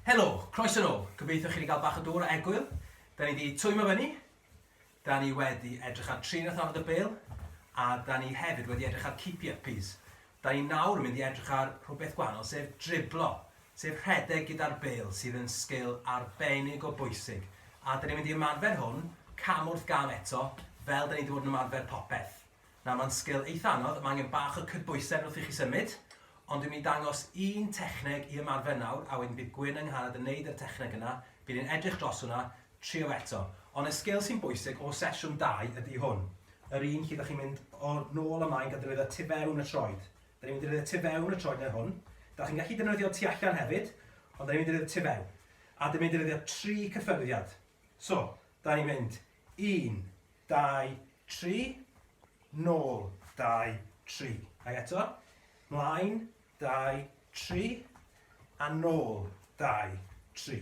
Helo, croeso nôl. Gobeithio chi wedi cael bach o dŵr a egwyl. Da ni wedi twymo fyny, da ni wedi edrych ar trin a thorfod y bel, a da ni hefyd wedi edrych ar keepy uppies. Da ni nawr yn mynd i edrych ar rhywbeth gwahanol sef driblo, sef rhedeg gyda'r bêl sydd yn sgil arbennig o bwysig a da ni'n mynd i ymarfer hwn cam wrth gam eto fel da ni wedi bod yn ymarfer popeth. Nawr mae'n sgil eitha anodd, mae angen bach o cydbwysedd wrth i chi symud ond dwi'n mynd i dangos un techneg i ymarfer nawr a wedyn bydd Gwyn yng Nghanad yn neud yr techneg yna, bydd e'n edrych dros hwnna, Trio eto. Ond y sgil sy'n bwysig o sesiwn dau ydi hwn. Yr un lle 'da chi'n mynd o nôl a mlaen gan ddefnyddio tu fewn y troed. 'Da ni'n mynd i ddefnyddio tu fewn y troed neu hwn. 'Da chi'n gallu defnyddio tu allan hefyd, ond 'da ni'n mynd i ddefnyddio tu fewn. A 'da ni'n mynd i ddefnyddio tri cyffyrddiad. So, 'da ni'n mynd un, dau, tri, nôl, dau, tri. Ac eto, mlaen, dau, tri, a nôl, dau, tri.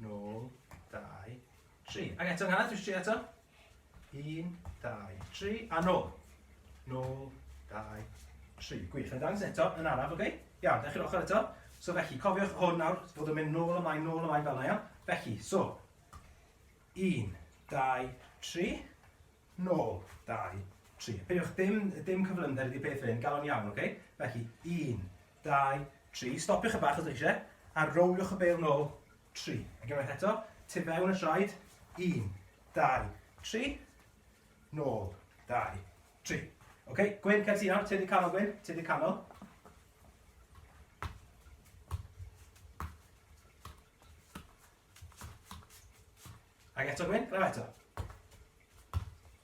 nôl, dau, tri. Ac eto nghanad, dwi'n tri eto. Un, dau, tri, a nôl. Nôl, dau, tri. Gwych, yn dangos eto, yn araf, oce? Okay? Iawn, dechrau'r ochr eto. So felly, cofiwch hwn nawr, fod yn mynd nôl ymlaen, nôl ymlaen fel yna, iawn? Felly, so, un, dau, tri, nôl, dau, tri. Peidiwch dim, dim cyflymder ydi peth hyn, galon iawn, oce? Okay? Felly, un, Dau, tri, stopiwch chydig bach os dach chi eisiau, a rowliwch y bêl nôl, tri. Ac unwaith eto, tu fewn y traed, un, dau, tri, nôl, dau, tri. Oce, okay, Gwyn, cer ti nawr, ti wedi canol Gwyn, ti wedi canol. Ac eto Gwyn, glyfa eto.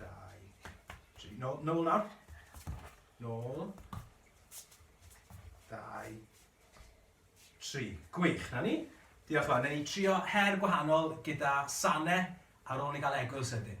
dau, tri. Nôl, nôl nawr. Nôl. Dau, tri. Gwych, na ni. Diolch fawr. Neu ni trio her gwahanol gyda sane ar ôl ni gael egwyl sydyn.